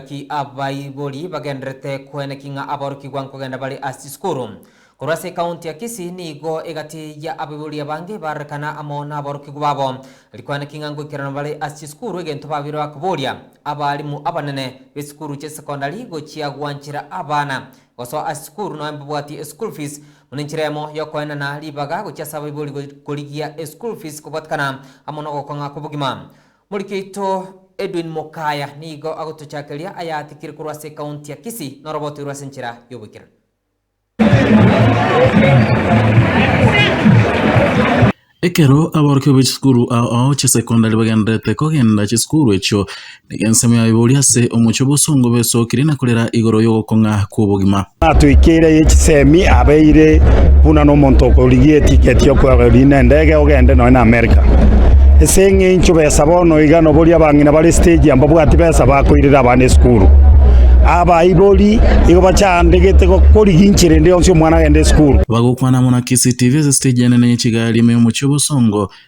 Naki abaibori bagendererete koeneki ng'a aborokigwa nkogenda bare ase chisukuru. Korwa ase ekaunti ya Kisii nigo egati ya abaibori abange bararekana amo naborokigwa babo. Rikoeneki ng'a ngoikerana bare ase chisukuru egento babire bakoboria abalimu abanene b'esukuru chia secondary gochia gwanchera abana gosoa ase chisukuru nonya mbabwati eschool fees buna enchera eyemo yokoenana ribaga gochia ase abaibori korigia eschool fees kobwatekana amo nogokong'a kobogima. Moriki oito Edwin Mukaya nigo agotochakeria ayatikire korwa ase ekaunti ya Kisii noroboto rwe ase enchera y'oboikeranu. Ekero aborokigwa be chisukuru ao chia secondary bagendererete kogenda chisukuru echio, nigo ensemo yabo eboria ase omochie bw'osongo bwesokire na korera igoro y'ogokong'a kw'obogima. Natwikire ye chisemi abeire buna nomonto okorigia etiketi y'okweogeria nendege ogende nonya na Amerika. Ase eng'encho besa bono iga noboria abang'ina bare stage aa mbabwati besa bakoirera abana esukuru. Abaibori igo bachandegete gokorigia inchera ende yonsi omwana agende esukuru. Bagokwana buna CCTV ase stage enene ye chigari ime y'omochie o Bosongo.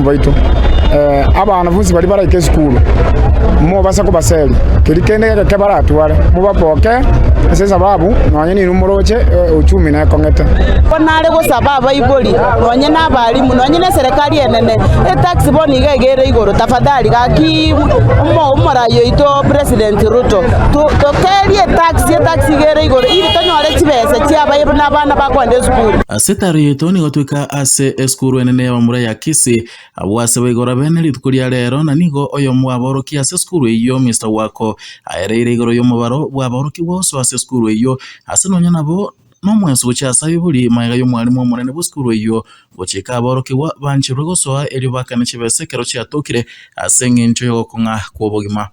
baito. Abanafunsi baria baraike esukuru, mobase kobaseria, keria kende egeke baratware, mobaboke ase esababu nonye ninwe moroche euchumi nekong'ete. Ko nare gosaba abaibori, nonye na abalimu, nonye na eserekari enene, etax bono iga egere igoro, tafadhali gaki omo omorai oito President Ruto, to tokerie etax, etax igere igoro, ili tonyore chibesa chia abaye buna abana bakoenda esukuru. Ase etaro yaito nigo tweka. ase esukuru enene y'abamura ya Kisii. Abwo ase boigo orabe nerituko ria reero na nigo oyomo bw'abaorokia ase esukuru eyio Mister Wako aereire igoro y'omobaro bw'abaorokigwa oso ase esukuru eyio ase nonya nabo nomwenso gochia ase abio buri magega y'omwarimu omonene bw'esukuru eyio gochika abaorokigwa bancherwe gosoa erio bakane chibesa ekero chiatokire ase engencho y'ogokong'a kw'obogima.